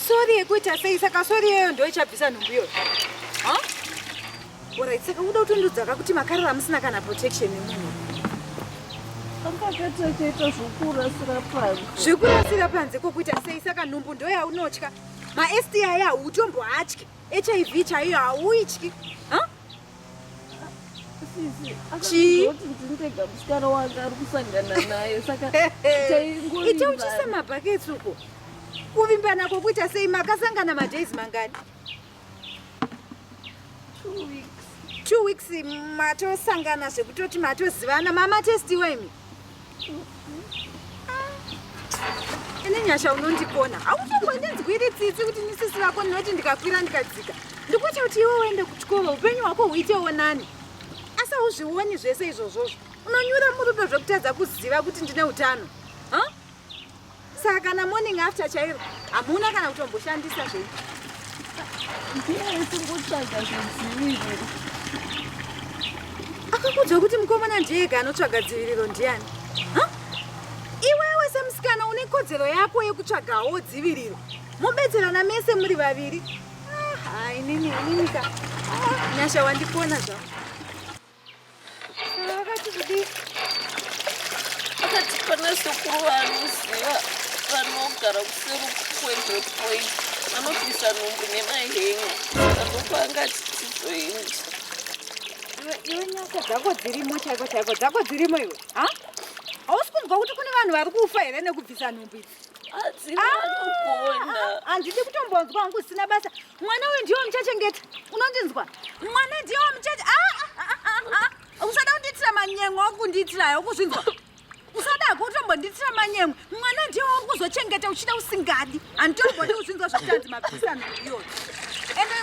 sori yekuita sei saka sori iyoyo ndo ichabvisa nhumbu iyoyo orit saka uda kutondodzaka kuti makarara musina kana protection yemunhu akakatachaita zvekurasira panze zvekurasira panze kokuita sei saka nhumbu ndoyaunotya maSTI ahu utombohatye hiv chaiyo hauityi chii ndega musikana wanga ari kusangana naye saka ita uchise mabhaketsi uko kuvimbana kwokuita sei makasangana madays mangani two weeks matosangana zvekutoti matozivana mamatestiwa imi Ini Nyasha unondikona. Hautongondinzwiri tsitsi kuti nisisi vako ndinoti ndikakwira ndikadzika. Ndikuti kuti iwe uende kuchikoro upenyu hwako huitewo nani. Asi hauzvioni zvese izvozvozvo. Unonyura murudo zvekutadza kuziva kuti ndine utano. Saka kana morning after chairo hamuna kana kutomboshandisa zvenyu. Akakuudza kuti mukomana ndiega anotsvaga dziviriro ndiani? Iwewe semusikana une kodzero yako yekutsvagawo dziviriro. Mobetserana mese muri vaviri. Ah, inini inini ka. Ah, nyasha wandipona zvangu. akati pana sekuru vaanoziva vanogara kuseri kwendwe point vanobvisa nhumbu nemahenga azopa angati tizoenda iwe nyasha dzako dzirimo chaiko chaiko dzako dzirimo iwe ha hausi kunzwa kuti kune vanhu vari kufa here nekubvisa nhumbu idzi handidi kutombonzwa hangu usina basa mwana uyu ndiwo muchachengeta unondinzwa mwana ndiwo muchache usada kundiitira manyengo okundiitirayo ukuzvinzwa usadako utombondiitira manyengo mwana ndiwo uri kuzochengeta uchida usingadi handitombodi kuzvinzwa zvokutanzi mabvisa nhumbi iyoyo ende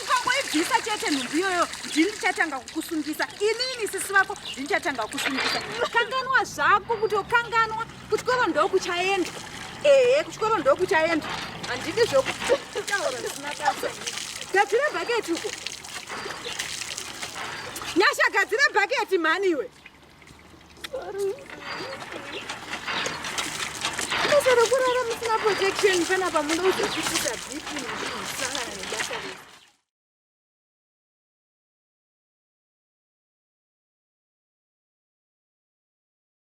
ukangoibvisa chete nhumbi iyoyo ndini ndichatanga kukusungisa inini sisi vako ndinichatanga kukusungisa kanganwa zvako kutokanganwa kuchikoro ndokuchaenda ehe kuchikoro ndokuchaenda handidi zvokutaura zvisina basa gadzira bhaketi uko nyasha gadzira bhaketi mhani iwe basa rokurara musina protection panapa muno uzochifuta bhipi musangana nebasa rese